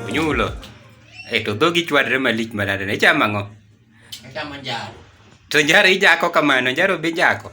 Onyulo. E to dhogi chwadre malich manade ne chama ang'o? Achamo njaro. To njaro ijako kamano, njaro be ijako.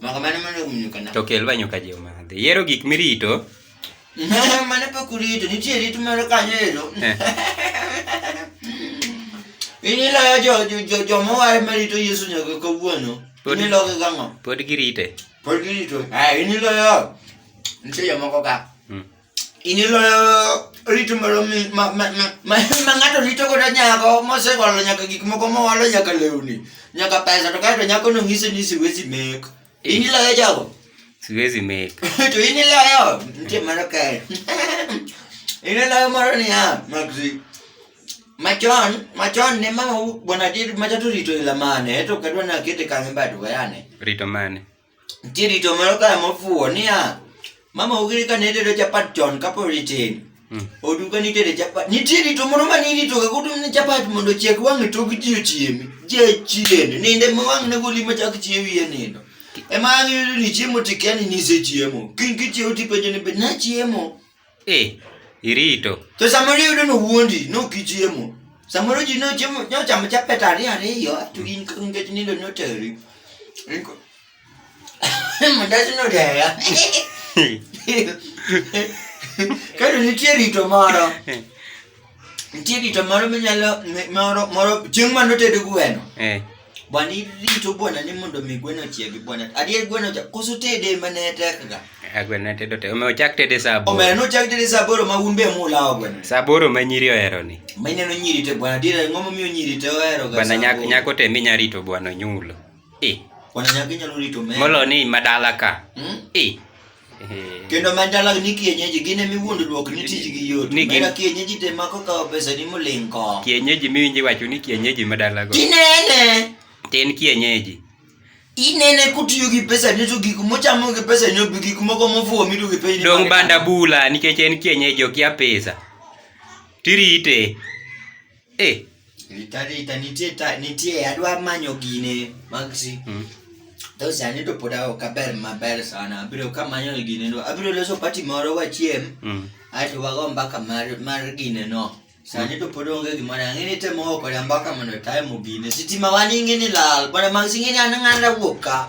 Maka mane mane omunyuka na. To kel banyo ka je omadhi. Yero gik mirito. mane pok urito, nitie rit moro kanyo ero. Eh. In iloyo jo jo jo jo mowar marito Yesu nyaka kawuono. Pod- In iloyo gang'o? Pod girite. Pod girito. Ah, in iloyo. Nitie jomoko ka. iniloyo rito moro ma ng'ato rito godo nyako mosewalo nyaka gik moko mowalo nyaka lewni nyaka pesa to kaeto nyako nong'ise ni siwezi mek iniloyo jago siwezi mek to iniloyo nitie mano kae iniloyo moro niya maxi machon machon ne mama bwana dir macha to rito ila mane to kadwa nakete kange bado wayane rito mane Nitie rito moro kae mofuwo niya, mama ugiri ka ne tedo chapat chon kapod itin. Mm. Odu ka nitere chapat. Nitie rito moro ma nirito ka kutum ne chapat mondo chiek wang'e tok ji ochiemi. Ji chien. Ninde ma wang' ne goli ma chak chiewi e nindo. Ema ang' yudo ni chiemo tikia ni nisechiemo. Kiny kichiewo tipenjo ni be nachiemo. Eh, irito. To samoro iyudo ni owuondi, ne ok ichiemo. Samoro ji nochiemo, nochamo chapet ariyo ariyo, to in ka nikech nindo noteri. In ko- Mandas nodeya. Kendo nitie rito moro. nitie rito moro minyalo moro moro chieng' mane oted gweno eh. bwana irito bwana ni mondo mi gweno ochiegi bwana adier gweno cha koso tede mane tekga eh, gweno ne tedo tede omewo chak tede saa aboro omewo nochak tede saa aboro ma un be mulawo gweno saa aboro ma nyiri ohero ni ma ineno nyiri te bwana adier ang'o momiyo nyiri te ohero ga bwana nyako nyako te minya rito bwana onyulo eh bwana nyako inyalo rito meno molo ni madala ka hmm? eh kendo mandala ni kienyeji gin emi wuondo duok ni tijgi yot Ni gin- mera kienyeji te mako kawo pesa ni moling ko kienyeji miwinji wacho ni kienyeji madalago tinene tin kienyeji inene kutiyo gi pesa ni to gik mochamo gi pesa ni obi gik moko mofuwo mido gi piny dong banda bula nikech en kienyeji okia pesa tirite Eh. Rita rita nitie ta nitie adwa manyo gine magsi. Mm. To sani to pod aok aber maber sana. Abiro ka manyo gine no. Abiro loso party moro wachiem. Mm. Ato wago mbaka mar mar gine no. Sani to pod onge gimoro ang'ini temo oko ya mbaka mondo time gine. Sitima wani ng'ini lal. Bwana magsi ng'ini anang'anda wuok ka.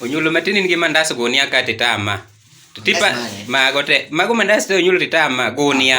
onyulo matin in gi mandas gunia ka titama tipa mago te mago mandas te onyulo titama gunia